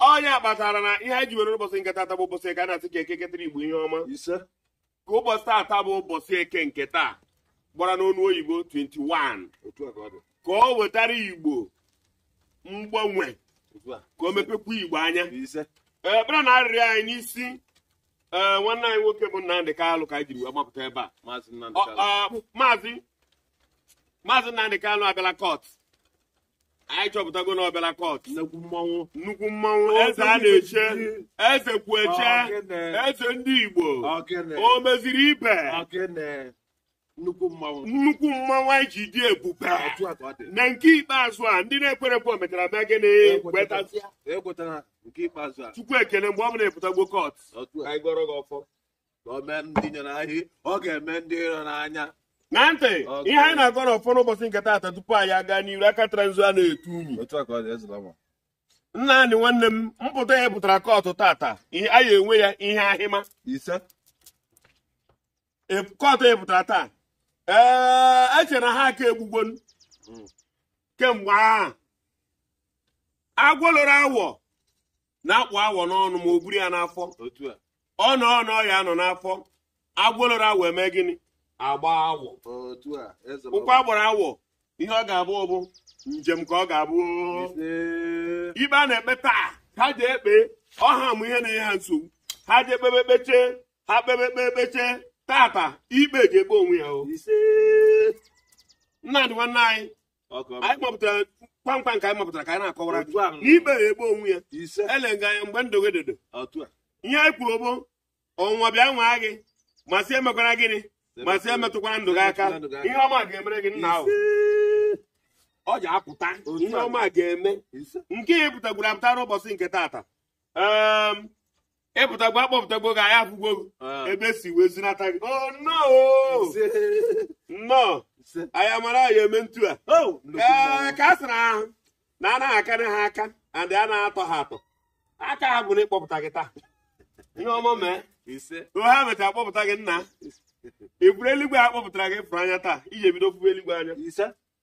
ọ ya kpatara na ihe anyị ji were ụbọchị nke tata bụ ụbọchị eke a na-asị ka eke ketara igbo ihe ọma ise ka ụbọchị tata bụ ụbọchị eke nke taa gbara n'ọnụ oyibo 21 otu a ka ọ dị ka ọ wetara igbo mgbanwe otu a ka o mepekwa igbo anya ise ekpere na arịrịọ anyị n'isi ee nwanne anyị nwoke bụ Nnamdị Kalụ ka anyị jiri wee gbapụta ebe a maazị Nnamdi Ọ- Kanu ọ, maazị maazị Nnamdị Kalụ abịala kọt anyị chọpụtago na ọ bịala kọt nnukwu mmanwụ nnukwu mmanwụ eze a na-eche eze kwu eche Ọkene. eze ndị igbo ọkene o meziri ibe ọkene nnukwu mmanwụ nnukwu mmanwụ anyị ji dị ebube otu a ka ọ dị na nke ikpeazụ a ndị na-ekwere ekwe mechara mee gịnị kwetazịa ekwetara nke ikpeazụ a chukwu ekele mgbe ọ bụ na ị pụtagbo kọt otu a anyị gọrọ gị ọfọ ka o mee ndị nyere anyị ọ ga-eme ndị iro n'anya na ntị Okay. ihe anyị na-agọ n'ọfọ n'ụbọchị nke taata tupu anyị aga n'iru aka tara nzu a na-etu unyi otu a ka ọ dị ezula ma Nnamdị nwanne m mpụta ya pụtara kọtụ tata ihe anyị enwe ya ihe anyị ma ise E- kọtụ ya pụtara taa ee e chere na ha aka egbugbo m kemgbe ahụ agwọ loro awọ na-akpụ awọ n'ọnụ ma o buru ya n'afọ ọ nọ ọnọ ya nọ n'afọ agwọ loro awọ eme gịnị agba awọ ụkwa gbara awọ ihe ọ ga-abụ bụ njem ka ọ ga-abụ ikpe a na-ekpe taa ha je-ekpe ọha mụ ihe na-enye ha nsogbu ha je-ekpebe ekpeche ha kpebe ekpe ekpeche tata ikpe je-ekpe onwe ya o Nnamdị nwanne anyị anyị mapụtara kpamkpam ka anyị mapụtara ka anyị na-akọwara na ikpe ya ekpe onwe ya ele nga anya mgbe ndụ gị dodo ihe anyị kwuru bụ ọnwa bịa nwaa gị ma sị emekwara gịnị ma sị emetụkwara ndụ gị aka ihe ọma ga-emere gị nna ahụ ọ ja-apụta ihe ọma ga-eme nke ya pụtagwuru apụta n'ụbọchị nke taata ị pụtagbo a kpọpụtagbo gị anyị afụgbo gị ah. ebe si wee zinata gị oh, nnọọ anyị amara anyị eme ntu a oh, ee ka a sịrị ha na a na-akarị ha aka and a na-atọ ha atọ aka ha bụ na ịkpọpụta gị taa ihe ọma mee ha mecha akpọpụta gị nna ị fụrụ eluigwe a kpọpụtara gị fụrụ anya taa i je-ebido fụwa eluigwe anya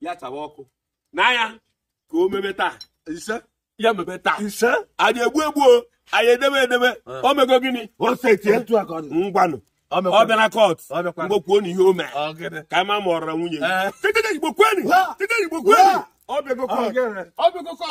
ya chawa ọkụ n'anya ka o mebe taa ise ya mebe taa ise anyị egbu egbu anyị edebe edebe o mego gịnị o setie ngwanụ ọ bịala kọt mgbe kwuonu ihe o mere ka anyị ma ma ọ rara nwunye ya tete igbo kweni tete igbo kweni ọ bịago kọt ọ bịago kọt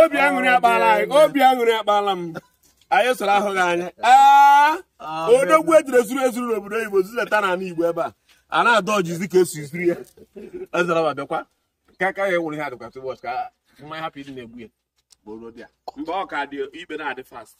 obi aṅụrị akpala anyị obi aṅụrị akpala m anyị soro ahụ gị anya aa ah, odogwu ejidere zuru ezuru n'obodo oyibo zilata na ala igbo ebe a a na-adọ ọjizi ka esi zuru ya ezara ma bịakwa ka aka ya enwere ihe adịkwa ụbọchị ka mmanya hapụ ịdị na-egbu ya mgbe ọ ka dị ikpe na-adị fast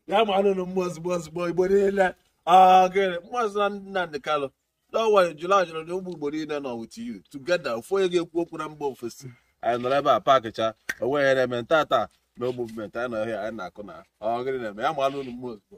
ya mara unu mma ozugbo ozugbo igbo niile ah, Maazị Nnamdi Kanu Don't worry, July ajụrụ na ụmụ Igbo niile nọ with you together ofu onye ga-ekwu okwu na mba ofesi anyị nọrọ ebe a paakịcha onweghị ihe na-eme taata no movement anyị nọ ọhịa anyị na-akụ na ọ gịnị na-eme ya mara unu mma ozugbo